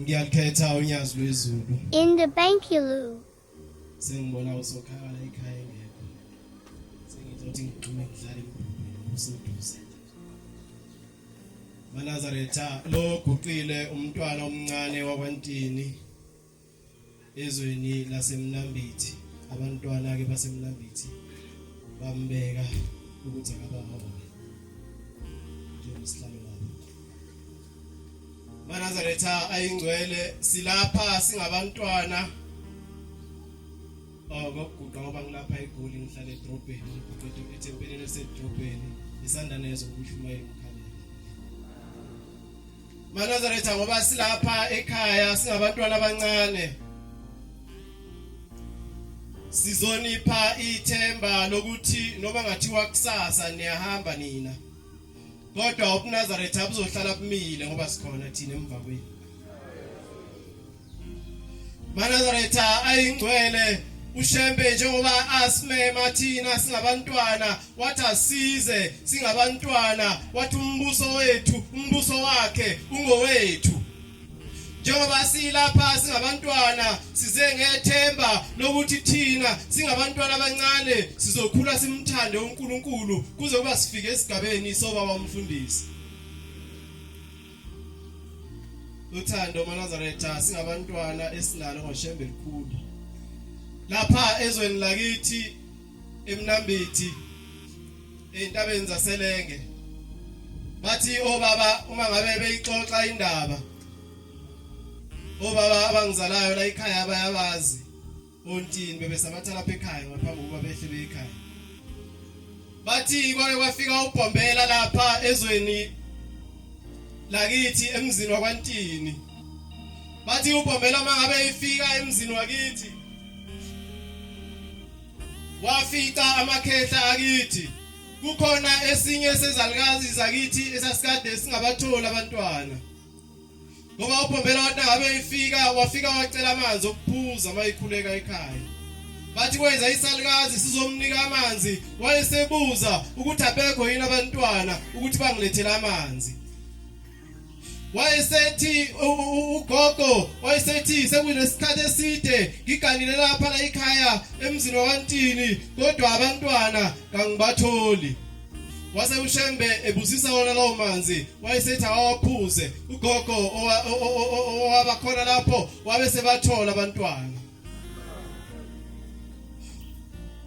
Ngiyakhetha unyazi lwezulu. In the bank you loo. Sengibona usokhala ekhaya engekho. Sengizothi ngigxume ngidlale emphumeni useduze. Manazaretha lo guqile umntwana omncane wakwantini. ezweni lasemnambithi abantwana ke basemnambithi bambeka ukuthi akabahole njengesihlalo lapho manazaretha ayingcwele silapha singabantwana Oh ngokuguqa ngoba ngilapha eGoli ngihlala edrobheni ngiqeda ethempelini esedrobheni isandane ezokuyishumayela umkhalelo Manazaretha ngoba silapha ekhaya singabantwana abancane sizonipha ithemba lokuthi noma ngathiwa kusasa niyahamba nina kodwa ubunazaretha buzohlala bumile ngoba sikhona thina emva kwenu Manazaretha ayingcwele uShembe njengoba asimema thina singabantwana wathi asize singabantwana wathi umbuso wethu umbuso wakhe ungowethu njengoba silapha singabantwana size ngethemba lokuthi thina singabantwana abancane sizokhula simthande uNkulunkulu kuze kuba sifike esigabeni sobaba umfundisi uthando manazaretha singabantwana esinalo ngoshembe likhulu lapha ezweni lakithi emnambithi entabeni zaselenge bathi obaba uma ngabe beyixoxa indaba obaba abangizalayo la ekhaya bayabazi Ontini bebesabatha lapha ekhaya ngaphambi kokuba behle beye ekhaya. Bathi kwake kwafika ubhombela lapha ezweni lakithi emzini wakwantini. Bathi ubhombela mangabe ifika emzini wakithi wafica amakhehla akithi kukhona esinye sezalukazi zakithi esasikade singabathola abantwana ngoba uBhombela wathi ngabe ifika wafika wacela amanzi okuphuza uma ikhuleka ekhaya bathi kwenza isalukazi sizomnika amanzi wayesebuza ukuthi abekho yini abantwana ukuthi bangilethele amanzi wayesethi ugogo wayesethi sekunesikhathi eside ngiganile lapha la ikhaya emzini wakantini kodwa abantwana kangibatholi wase ushembe ebusisa wona lawo manzi wayesethi awaphuze ugogo owaba khona lapho wabe sebathola abantwana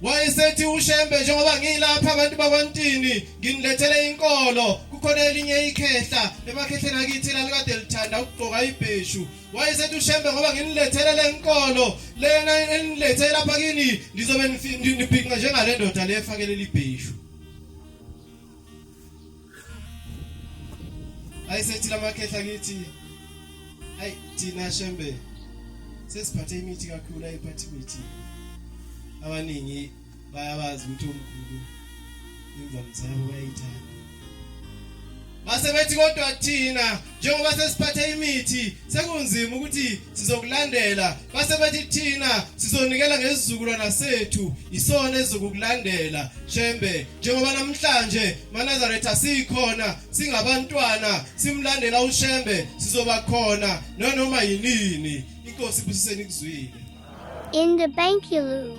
wayesethi ushembe njengoba ngilapha abantu bakwantini nginilethele inkolo kukhona elinye ikhehla emakhehleni akithi lalikade lithanda ukugqoka ibheshu wayesethi ushembe ngoba nginilethele le nkolo lena enilethele lapha kini ngizobe nibhinqa njengale ndoda le efakelele ibheshu ayisethi lamakhehla kithi ayi thina shembe sesiphathe imithi kakhulu ayiphathi imithi abaningi bayabazi ukuthi omkhulu imvamisa yabo bayayithanda base bethi kodwa thina njengoba sesiphathe imithi sekunzima ukuthi sizokulandela base bethi thina sizonikela ngesizukulwana sethu isona esizokulandela shembe njengoba namhlanje manazaretha sikhona singabantwana simlandela ushembe sizoba khona nonoma yinini inkosi ibusiseni kuzwile in the bank you